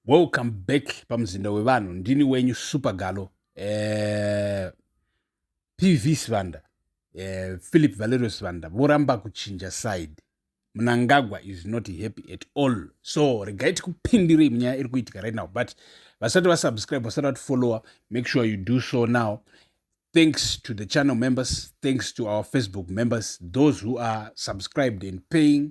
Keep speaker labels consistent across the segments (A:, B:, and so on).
A: Welcome back pamuzinda wevanhu ndini wenyu supergalo eh, pv sivanda eh, philip valerio sivanda voramba kuchinja side mnangagwa is not happy at all so regai tikupindirei munyaya iri kuitika right now but vasati vasubscribe vasati vatifollowa make sure you do so now thanks to the channel members thanks to our facebook members those who are subscribed and paying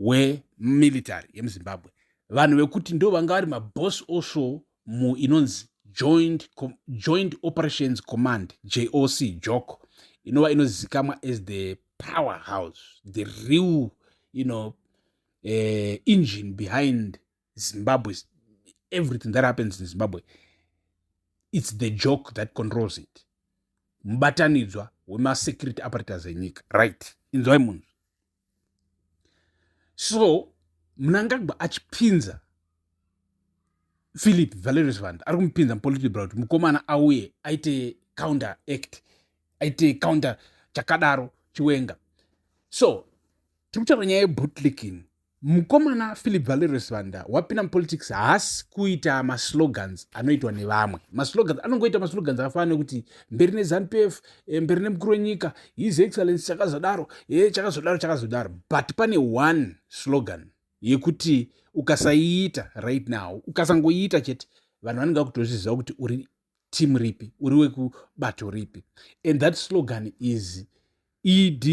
A: wemilitary yemuzimbabwe vanhu vekuti ndo vanga vari maboss also muinonzi joint, joint operations command joc joko inova inozikamwa as the power house the real you know, uh, engine behind zimbabwe everything that happens in zimbabwe its the joke that controls it mubatanidzwa wemasecurity apparatus enyika right inzwai munhu so mnangagwa achipinza philip valerius vand ari kumupinza mupolitical bra kuti mukomana auye aite counter act aite counter chakadaro chiwenga so tiri kutaura nyaya yebutlicking Mukomana Philip Valerius Banda wapinda mupolitics haasi kuita maslogans anoitwa nevamwe. Maslogans anongoita maslogans akafanana nekuti mberi neZanupf, eh, mberi nemukuru wenyika, his excellence chakazodaro, eh, chakazodaro, chakazodaro. But pane one slogan yekuti ukasaiita right now, ukasangoiita chete, vanhu vanenge vakutozviziva kuti uri team ripi uri wekubato ripi and that slogan is ed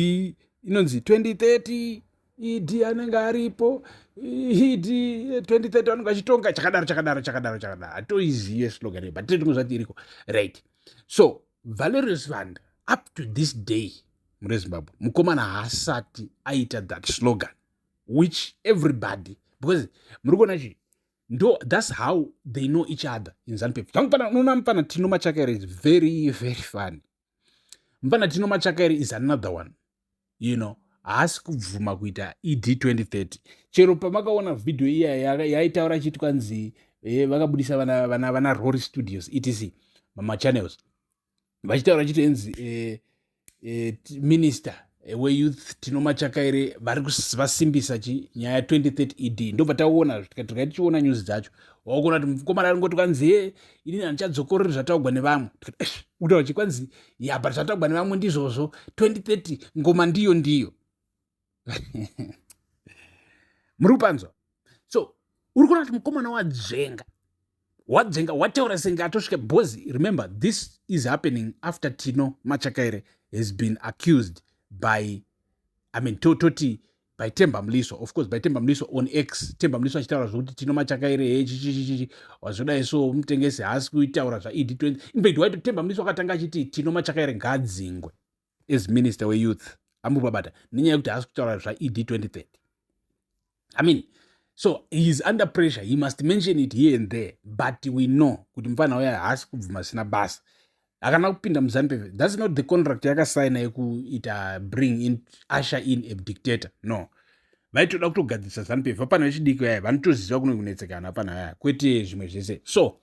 A: inonzi 2030 ed anenge aripo ed 2030 anenge achitonga chakadaro chakadaro chakadaro chakadaro hatoizive slogan but tine tumwe zvati iriko right so valerius vanda up to this day mune zimbabwe mukomana haasati aita that slogan which everybody because muri kuona chii ndo thats how they know each other in zanupef tangu pana unoona mupana tino machakaere is very very funny mupana tino machakaere is another one you know haasi kubvuma kuita ed 2030 chero pamakaona vhidhiyo iya yaitaura ya, ya chiti kwanzi eh, vakabudisa vana, vana, vana rory studios etc mamachannels vachitaura chitenzi eh, eh, minister eh, weyouth tino machakaire vari vasimbisa chi nyaya 2030 ed ndobva taona tikati tichiona news dzacho wakuona kuti mukomana ari ngoti kwanzi he ini handichadzokorori zvataugwa nevamwe kutaura kuti kwanzi ya but zvataugwa nevamwe ndizvozvo 2030 ngoma ndiyo ndiyo muri kupanzwa so uri kuona kuti mukomana wadzenga wadzenga wataura senge atosvika because remember this is happening after tino machakaire has been accused by i mean tototi by temba mliswa of course by temba mliswa on x temba mliswa achitaura zvokuti tino machakaire he chichichichichi wazvodai so mutengesi haasi kuitaura zvaed 20 infact waito temba mliswa akatanga achiti tino machakaire ngaadzingwe as minister weyouth ambobabata nenyaya yekuti haasi kutaura zvaed 2030 i mean so he is under pressure he must mention it here and there but we know kuti mufana uya haasi kubvuma sina basa akana kupinda muzanpe thats not the contract yakasaina yekuita bring in usher in a dictator no vaitoda kutogadzirisa zanupf vapana vechidiki vaya vanotoziva kuno kunetsekana vapana vaya kwete zvimwe zvese so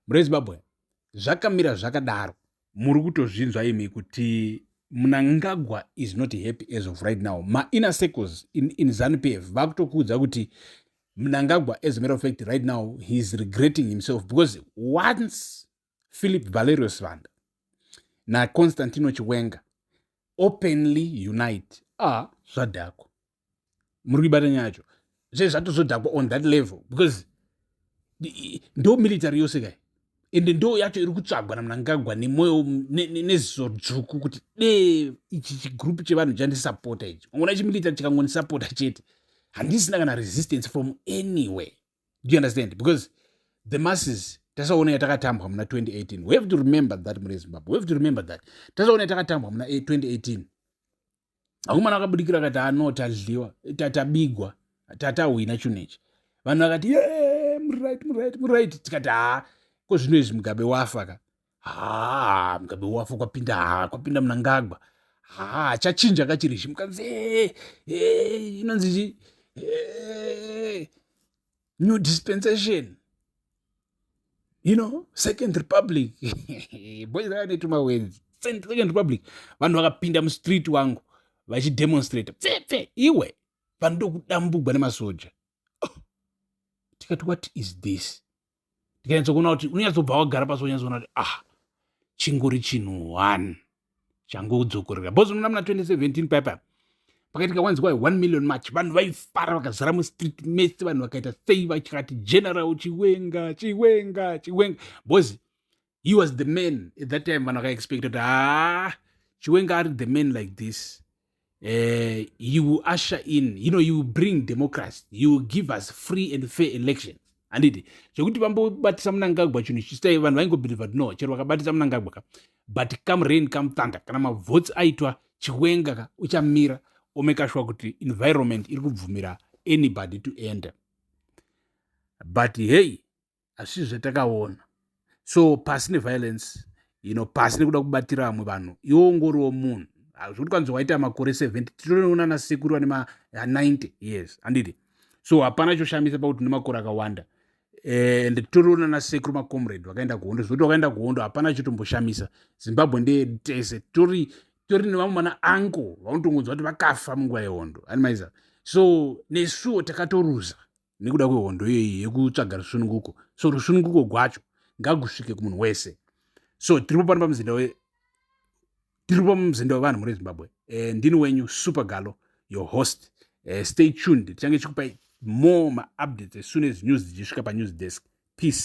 A: murezimbabwe zvakamira zvakadaro muri kutozvinzwa imi kuti munangagwa is not happy as of right now mainner circles in, in zanupf vakutokuudza kuti mnangagwa as a matter of fact right now he is regretting himself because once philip valerio sivanda naconstantino chiwenga openly unite a ah, zvadhakwa muri kuibata nyaya yacho zve zvatozodhakwa on that level because ndo military yose kai ende ndo yacho iri kutsvagwa namnangagwa nemwoyo neziso dzvuku kuti dee ichi chigroup chevanhu chandisapota ichi ongona chimilitary chikangonisapota chete handisina kana resistance from anywhere do you understand because the masses tasaona yatakatambwa muna 2018 we have to remember that mune zimbabwe we have to remember that tasaona yatakatambwa muna 2018 eh, akomana akabudikira akati ano ah, tadliwa tatabigwa tatahwina chinhu ichi vanhu vakati ye murit murit murit tikati haa ko zvino izvi mugabe wafa ka haa mugabe wafa kwapinda haa kwapinda munangagwa haa chachinja kachiri zhi mukanzi inonzi chi new dispensation you know second republic boys aya netuma wenzi second republic vanhu vakapinda mustreet wangu vachidemonstrata pfepfe iwe vanhu ndokudambugwa nemasoja oh. tikati what is this tikanyatsokuona kuti unonyatsobva wagara pasi wanyatsoona kuti ah chingori chinhu one changudzokorera bos unoona muna 2017 paipa pakaitika wanzi kwai 1 million march vanhu vaifara vakazara mustreet mese vanhu vakaita sei vachikati general chiwenga chiwenga chiwenga bos he was the man at that time vanhu vakaexpecta kuti haa chiwenga ari the man like this uh, he will usher in you know he will bring democracy he will give us free and fair elections handiti zvekuti vambobatisa munangagwa chinhu chisai vanhu vaingobhilivha kuti no chero vakabatisa munangagwa ka but come rain come thunder kana mavhotsi aitwa chiwenga ka uchamira omekashuwa kuti environment iri kubvumira anybody to enter but hei asi zvatakaona so pasi neviolence you know pasi nekuda kubatira vamwe vanhu iwo ungoriwo munhu hazvoti kwanzi waita makore 70 tinoona nasekuru vane ma90 years anditi so hapana choshamisa pakuti une makore akawanda eh, and tinoona nasekuru macomrade vakaenda kuhondo zvekuti vakaenda kuhondo hapana chitomboshamisa zimbabwe ndeyedu tese tori tori nevamwe mana anko vanotongonzwa kuti vakafa munguva yehondo animaiza so nesuwo takatoruza nekuda kwehondo iyoyi yekutsvaga rusununguko so rusununguko gwacho ngagusvike kumunhu wese so tiripo pano pamuzinda we tiripo muzinda wevanhu muri zimbabwe eh, ndini wenyu super galo your host eh, stay tuned tichange chikupai more maupdates as soon as news dzichisvika panews desk peace